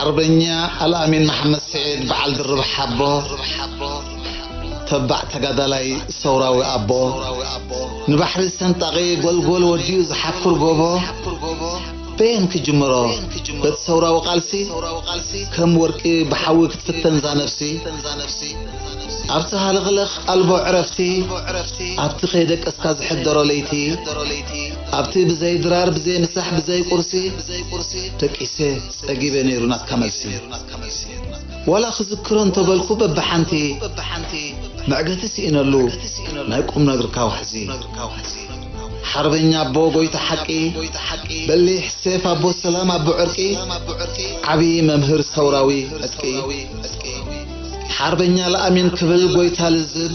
ሓርበኛ ኣልኣሚን መሓመድ ስዒድ በዓል ድርብ ሓቦ ተባዕ ተጋዳላይ ሰውራዊ ኣቦ ንባሕሪ ሰንጣቒ ጎልጎል ወዲኡ ዝሓኩር ጎቦ በየን ክጅምሮ በቲ ሰውራዊ ቃልሲ ከም ወርቂ ብሓዊ ክትፍተን እዛ ነፍሲ ኣብቲ ሃለኽለኽ ኣልቦ ዕረፍቲ ኣብቲ ከይደቀስካ ዝሕደሮ ለይቲ ኣብቲ ብዘይ ድራር ብዘይ ምሳሕ ብዘይ ቁርሲ ደቂሰ ጸጊበ ነይሩ ናትካ መልሲ ዋላ ክዝክሮ እንተበልኩ በብሓንቲ መዕገቲ ስኢነሉ ናይ ቁምነግርካ ዋሕዚ ሓርበኛ ኣቦ ጎይታ ሓቂ በሊሕ ሴፍ ኣቦ ሰላም ኣቦ ዕርቂ ዓቢ መምህር ሰውራዊ ዕጥቂ ሓርበኛ ለኣሚን ክብል ጎይታ ልዝብ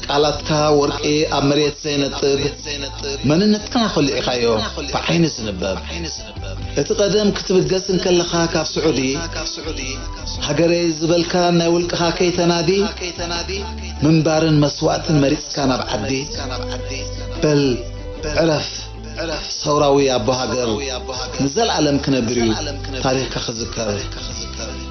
ቃላትካ ወርቂ ኣብ መሬት ዘይነጥብ መንነትና ኮሊዕካዮ ብዓይኒ ዝንበብ እቲ ቀደም ክትብገስ እንከለኻ ካብ ስዑዲ ሃገረይ ዝበልካ ናይ ውልቅኻ ከይተናዲ ምንባርን መስዋእትን መሪጽካ ናብ ዓዲ በል ዕረፍ ሰውራዊ ኣቦ ሃገር ንዘልኣለም ክነብር እዩ ታሪኽካ ክዝከር።